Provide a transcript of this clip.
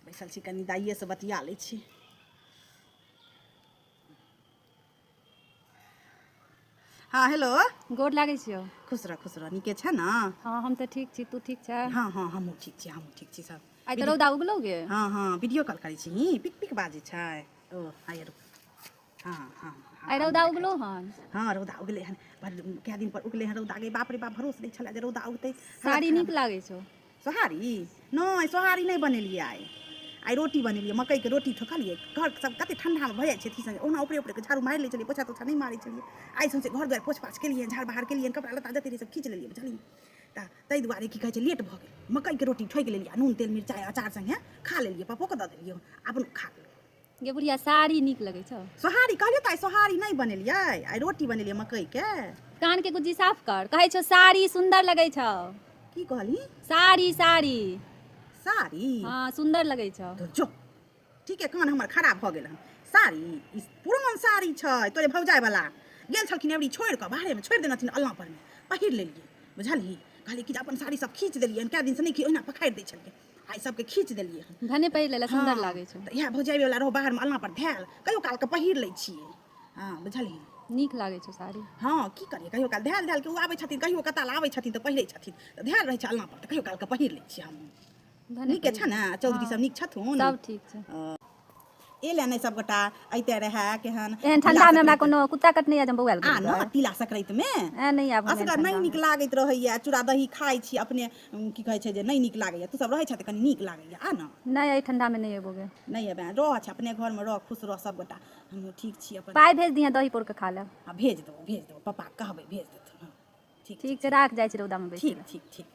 बैसल छी कनि दाइएसँ बतिया लै छी हँ हेलो गोर लागै छियौ खुश रह खुश रह नीके छै ने हँ हम तऽ ठीक छी तू ठीक छै हँ हँ हमहूँ ठीक छी हमहूँ ठीक छी सब आइ तऽ रौदा उगलौ गे हँ हँ वीडियो कॉल करै छी नी पिक पिक बाजै छै ओ आइ रुक हँ हँ आइ रौदा उगलो हन हँ रौदा उगलै हन पर कए दिन पर उगलै हन रौदा गे बाप रे बाप भरोस नहि छलै जे रौदा उगतै साड़ी नीक लागै छौ सोहारी नहि सोहारी नहि बनेलियै आइ आइ रोटी बनेलियै मकइके रोटी ठोकलियै घर सब कते ठंडामे भऽ जाइ छै अथी सङ्गे ओना ऊपरे ऊपरे झाड़ू मारि लै छलियै पोछा तोछा नहि मारै छलियै आइ सौंसे घर दुआरि पोछ पाछ केलियै झाड़ बहार केलियै कपड़ा लत्ता जते रहै सब खींच लेलियै बुझलियै तऽ ताहि दुआरे की कहै छै लेट भऽ गेल मकइके रोटी ठोकि लेलियै नून तेल मिरचाइ अचार सङ्गे खा लेलियै पप्पोके दऽ देलियै अपन खा लेलियै गे बुढ़िया साड़ी नीक लगै छौ सोहारी कहलियौ तऽ आइ सोहारी नहि बनेलियै आइ रोटी बनेलियै मकइके कान के गुज्जी साफ कर कहै छौ साड़ी सुंदर लगै छौ की कहली साड़ी साड़ी साड़ी हाँ सुंदर लगै छौ तो जो ठीके कान हमर खराब भऽ गेल हन साड़ी ई पुरान साड़ी छै तोरे भौजाय वाला गेल छलखिन एबरी छोड़ि कऽ बाहरेमे छोड़ि देने छथिन अल्लाह परमे पहिर लेलियै बुझलही कहलियै कि जे अपन साड़ी सब खींच देलियै कए दिनसँ नहि खी ओहिना पखारि दै छलियै आइ सबके खींच देलियै हन भने पहिर लेला सुन्दर हँ, लागै छौ तऽ इएह भौजाइ वाला रहौ बाहरमे अलना पर धैल कहियो काल के पहिर लै छियै हँ बुझलियै नीक लागै छौ साड़ी हँ की करियै कहियो काल धैल धैल के ओ आबै छथिन कहियो कताल आबै छथिन तऽ पहिरै छथिन तऽ धैल रहै छै अलना पर तऽ कहियो काल के पहिर लै छियै हम भने नीके पहिर। छै ने चौधरी सब नीक छथुन सब ठीक छै ए ले नहीं सब गोटा अइते रहे केहन एहन ठंडा में हमरा कोनो कुत्ता कट नहीं आ जम बौआल आ न तिला संक्रांति में ए नहीं आब असगर नहीं निक लागैत रहैया चूड़ा दही खाइ छी अपने उम, की कहै छै जे नहीं निक लागैया तू सब रहै छ त कनी निक लागैया आ न नहीं ए ठंडा में नहीं एबोगे नहीं एबे रह छ अपने घर में रह खुश रह सब गोटा हम ठीक छी अपन पाई भेज दिया दही पोर के खा ले आ भेज दो भेज दो पापा कहबै भेज देथुन हाँ, ठीक ठीक छै राख जाय छी रौदा में बैठ ठीक ठीक ठीक